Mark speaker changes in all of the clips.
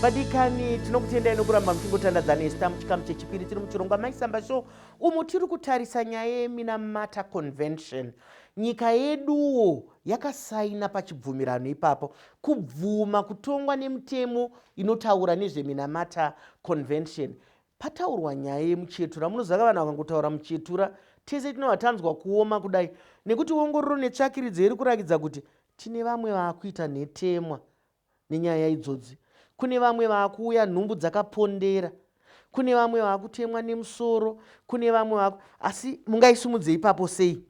Speaker 1: vadikani tinokutendai nokuramba muchingotandadza nesta muchikamu chechipiri tiri muchirongwa maisamba show umo tiri kutarisa nyaya yeminamata convention nyika yeduwo yakasaina pachibvumirano ipapo kubvuma kutongwa nemutemo inotaura nezveminamata convention Pataurwa nyaya yemuchetura munoziva vanhu vakangotaura muchetura tese tinobva tanzwa kuoma kudai nekuti ongororo netsvakiridzo iri kurakidza kuti tine vamwe vaakuita nhetemwa nenyaya idzodzi kune vamwe vaakuuya nhumbu dzakapondera kune vamwe vaakutemwa nemusoro kune vamwe vaku asi mungaisimudze ipapo sei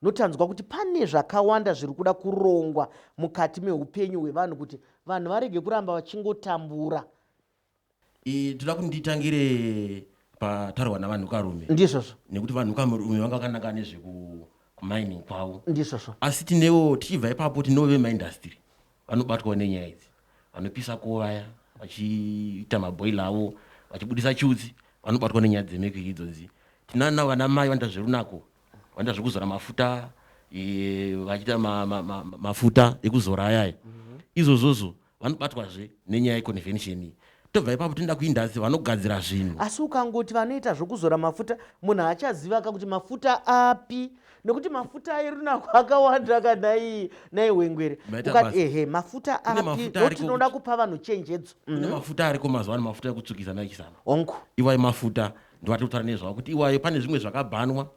Speaker 1: notanzwa kuti pane zvakawanda zviri kuda kurongwa mukati meupenyu hwevanhu kuti vanhu varege kuramba vachingotambura
Speaker 2: Ii toda kuti nditangire pataurwa navanhukarume. Ndizvozvo. Nekuti
Speaker 1: vanhukarume
Speaker 2: vanga vakanaka nezveku mining kwavo. Ndizvozvo. Asi tinewo tichibva ipapo tinewo vemaindastiri vanobatwawo nenyaya idzi. Vanopisa ko vaya vachiita maboiler avo vachibudisa chutsi vanobatwa nenyaya dzemekiri idzodzi. Tinana vana mai vanoita zverunako vanoita zvekuzora mafuta e, vachiita ma, ma, ma, mafuta ekuzora ayaya. Mm -hmm. Izvozvozvo. vanobatwazve nenyaya yeconvention iyi tobva ipapo tinoda kuindasi vanogadzira zvinhu asi ukangoti vanoita
Speaker 1: zvokuzora mafuta munhu haachaziva ka kuti mafuta api nekuti mafuta airunako akawanda ka nai nai hwengwere Maita ukati basa. ehe mafuta Kune api mafuta ariko ndotinoda kuti- kupa vanhu chenjedzo kune Mhm. mafuta ariko
Speaker 2: mazuva ano mafuta ekutsvukisa naichisana hongu iwayo mafuta ndiwatotara nezvawo kuti iwayo pane zvimwe zvakabhanwa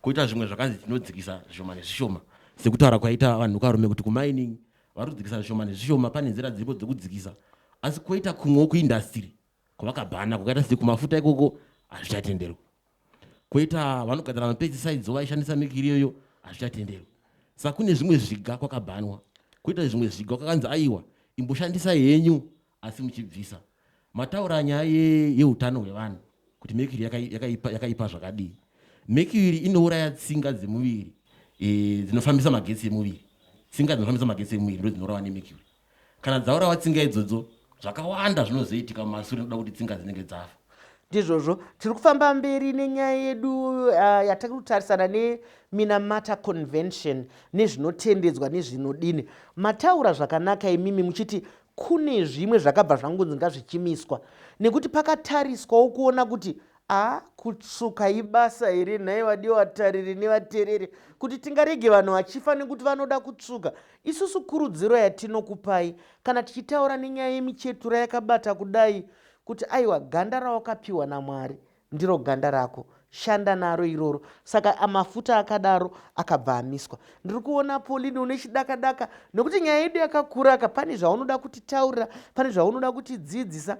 Speaker 2: koita zvimwe zvakanzi tinodzikisa zvishoma nezvishoma sekutaura kwaita vanhu karume kuti kumining vari kudzikisa zvishoma nezvishoma pane nzira dziripo dzekudzikisa asi koita kumwewo kuindastiri kwavakabhana kwakaita sekumafuta ikoko hazvichatenderwa koita vanogadzira mapesticides vaishandisa mikiri iyoyo hazvichatenderwa saka kune zvimwe zviga kwakabhanwa koita zvimwe zviga kwakanzi aiwa imboshandisai henyu asi muchibvisa mataura nyaya ye- yeutano hwevanhu kuti mercury yaka- yakaipa yakaipa zvakadii mercury inouraya tsinga dzemuviri eh, dzinofambisa magetsi emuviri tsinga dzinofambisa magetsi emuviri ndo dzinourawa nemercury kana dzaurawa tsinga idzodzo zvakawanda zvinozoitika mumasure nokuda kuti tsinga dzinenge dzafa ndizvozvo
Speaker 1: tiri kufamba mberi nenyaya yedu uh, yatiri kutarisana neminamata convention nezvinotendedzwa nezvinodini mataura zvakanaka imimi muchiti Kune zvimwe zvakabva zvangonzi ngazvichimiswa nekuti pakatariswawo kuona kuti aa kutsvuka ibasa here nhai vadiwa vatariri nevatereri kuti tingarege vanhu vachifa nekuti vanoda kutsvuka isusu kurudziro yatinokupai kana tichitaura nenyaya yemichetura yakabata kudai kuti aiwa ganda rawakapiwa namwari Ndiro ganda rako shanda naro iroro. Saka mafuta akadaro akabva amiswa. Ndiri kuona Pauline une chidaka daka nekuti nyaya yedu yakakura ka pane zvaunoda kutitaurira pane zvaunoda kutidzidzisa.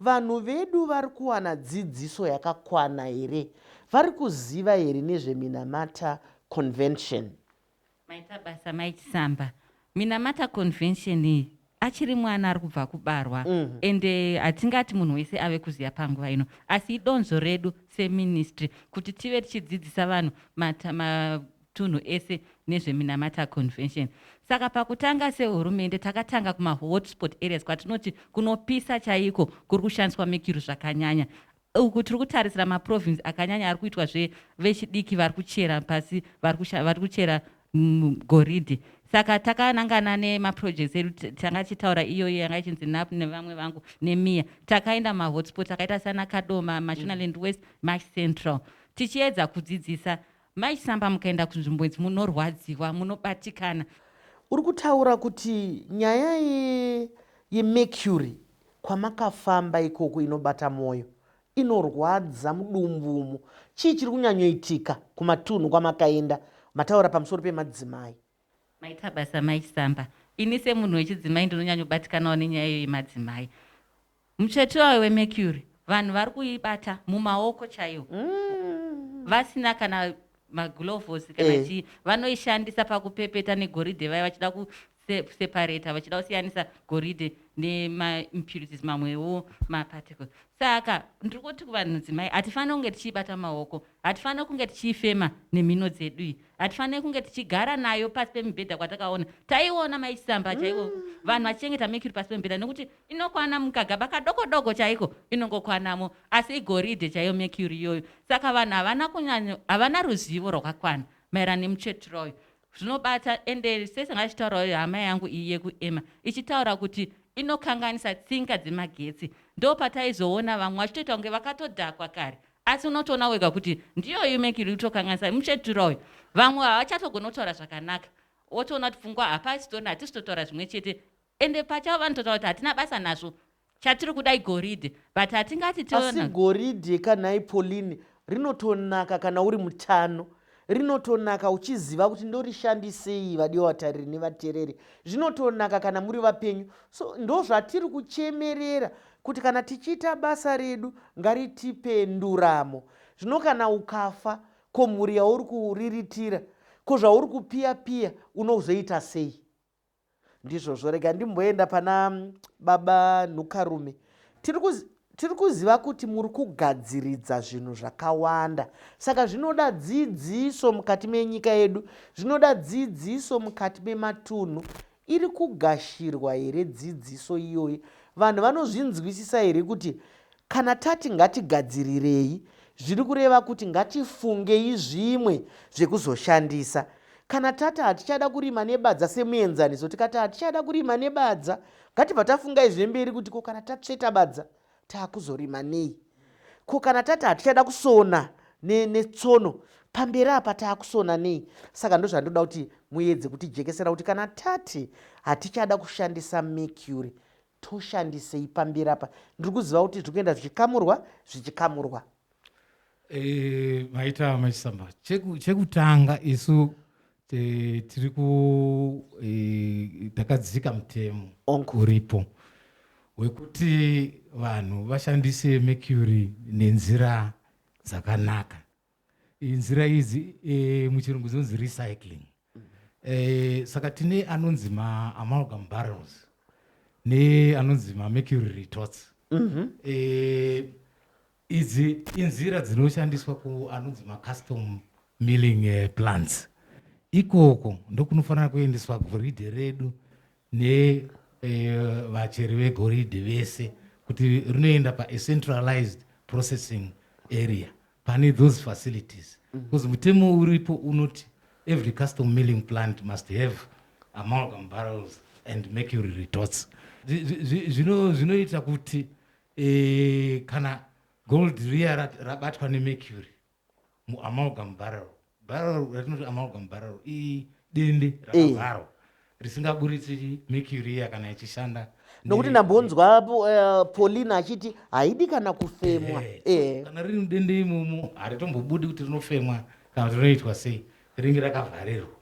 Speaker 1: Vanhu vedu vari kuwana dzidziso yakakwana here? Vari kuziva here nezveminamata convention? Maita
Speaker 3: basa mai Chisamba. Minamata convention iyi achiri mwana ari kubva kubarwa mm. and eh, hatingati munhu wese ave kuziva panguva ino asi idonzvo redu seministry kuti tive tichidzidzisa vanhu matunhu ese nezveminamata convention saka pakutanga sehurumende takatanga kumahotspot areas kwatinoti kunopisa chaiko kuri kushandiswa mekiru zvakanyanya Uku tiri kutarisira maprovince akanyanya ari kuitwa zve vechidiki vari kuchera pasi vari kuchera goridhe saka takanangana nemaprojects edu tanga tichitaura iyoyo yanga ichinzi nap nevamwe vangu nemiya takaenda mahotspot akaita sana kadoma mashonaland west mash central tichiedza kudzidzisa Mai Samba mukaenda kunzvimbo idzi munorwadziwa, munobatikana. Uri kutaura
Speaker 1: kuti nyaya yeMercury kwamakafamba ikoko inobata mwoyo, inorwadza mudumbu umu. Chii chiri kunyanyoitika kumatunhu kwamakaenda? Mataura pamusoro pemadzimai. Maita basa
Speaker 3: mai Samba. Ini semunhu wechidzimai ndinonyanyobatikanawo nenyaya iyo yemadzimai. Mutsvete wayo weMercury vanhu vari kuibata mumaoko chaiwo mm. vasina kana magulovosi kana eh. chii vanoishandisa pakupepeta negoridhe vaya vachida kuseparata vachida kusiyanisa goridhe nemaimpurities mamwewo maparticle saka ndiri kuti kuvanhu dzimai hatifanire kunge tichiibata maoko hatifanire kunge tichiifema nemhino dzedu iyi hatifanire kunge tichigara nayo pasi pemibhedha kwatakaona taiona mai chisamba chaivo mm. vanhu vachichengeta mercury pasi pemibhedha nekuti inokwana mukagaba kadoko doko chaiko inongokwanamo asi igoridhe chaiyo mercury iyoyo saka vanhu havana kunyanya havana ruzivo rwakakwana maererano nemutsvetiroyo zvinobata ende sese ngachitaurawo hama yangu iyi yekuema ichitaura kuti inokanganisa tsinga dzemagetsi ndopataizoona vamwe vachitoita kunge vakatodhakwa kare Asi unotoona wega kuti ndiyo you make you tokanganisa muchetura uyu. Vamwe havachatogona kutaura zvakanaka. Wotoona kuti pfungwa hapasi tona hatisi totaura zvimwe chete. Ende pachavo vanototaura kuti hatina basa nazvo. Chatiri kuda igoridhe but hatingati tiona. Asi goridhe
Speaker 1: kanhai Pauline rinotonaka kana uri mutano. rinotonaka uchiziva kuti ndorishandisei vadiwa vatariri nevatereri zvinotonaka kana muri vapenyu so ndozvatiri kuchemerera kuti kana tichiita basa redu ngaritipe nduramo zvino kana ukafa ko mhuri yauri kuriritira ko zvauri kupiya piya unozoita sei Ndizvozvo rega ndimboenda pana baba Nhukarume. Tiri kuzi tiri kuziva kuti muri kugadziridza zvinhu zvakawanda saka zvinoda dzidziso mukati menyika yedu zvinoda dzidziso mukati mematunhu iri kugashirwa here dzidziso iyoyi vanhu vanozvinzwisisa here kuti Kana tati ngatigadzirirei zviri kureva kuti ngatifungei zvimwe zvekuzoshandisa. Kana tati hatichada kurima nebadza semuenzaniso tikati hatichada kurima nebadza ngatibva tafunga izve mberi kuti ko kana tatsveta badza taakuzorima nei ko kana tati hatichada kusona netsono ne pamberi apa taakusona nei saka ndozvandoda kuti muedze kutijekesera kuti kana tati hatichada kushandisa mercury Toshandisei pamberi apa ndiri kuziva kuti zviri kuenda zvichikamurwa zvichikamurwa. Eh,
Speaker 4: maita machisamba chekutanga isu eh, tiri ku eh, takadzika mutemo uripo wekuti vanhu vashandise mercury nenzira dzakanaka nzira idzi eh, muchirungu dzinonzi recycling eh, saka tine anonzi maamalgam barrels neanonzi mamercury retorts mm -hmm. eh, idzi inzira dzinoshandiswa kuanonzi macustom milling eh, plants ikoko ndokunofanira kuendeswa goridhe redu nevacheri eh, vegoridhe vese kuti rinoenda pacentralized processing area pane those facilities because mutemo uripo unoti every custom milling plant must have amalgam barrels and mercury retots zvinoita kuti eh, kana gold riya rabatwa nemercury muamalgam barrel Bhararo ratinoti amalgam bhararo idende eh. rakavharwa risingaburitsi mercury iya kana ichishanda nokuti ndambonzwa
Speaker 1: eh, paulina achiti haidi kana kufemwa eh, kana riri
Speaker 4: mudende imomo haritombobudi kuti rinofemwa kana kuti rinoitwa sei ringe rakavharirwa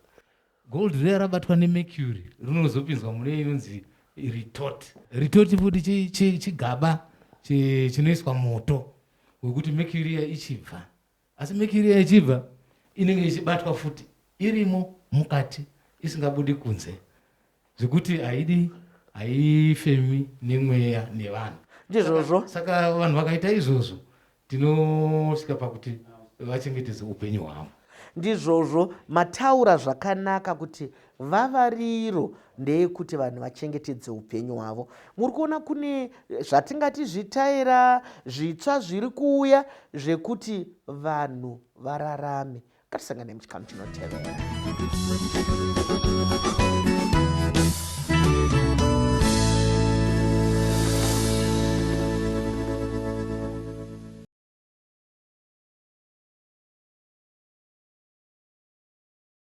Speaker 4: gold riya rabatwa nemercury rinozopinzwa mune inonzi retort retort futi chigaba chinoiswa moto wekuti mercury iya ichibva asi mekiri yechibva inenge ichibatwa futi irimo mukati isingabudi kunze zvekuti haidi haifemi nemweya nevanhu ndizvozvo saka
Speaker 1: vanhu vakaita
Speaker 4: izvozvo tinosvika pakuti vachengetedze upenyu hwavo ndizvozvo
Speaker 1: mataura zvakanaka kuti Vavariro ndeyekuti vanhu vachengetedze upenyu hwavo. Muri kuona kune zvatingati zvitaera zvitsva zviri kuuya zvekuti vanhu vararame. Ngatisangane muchikamu chinotevera.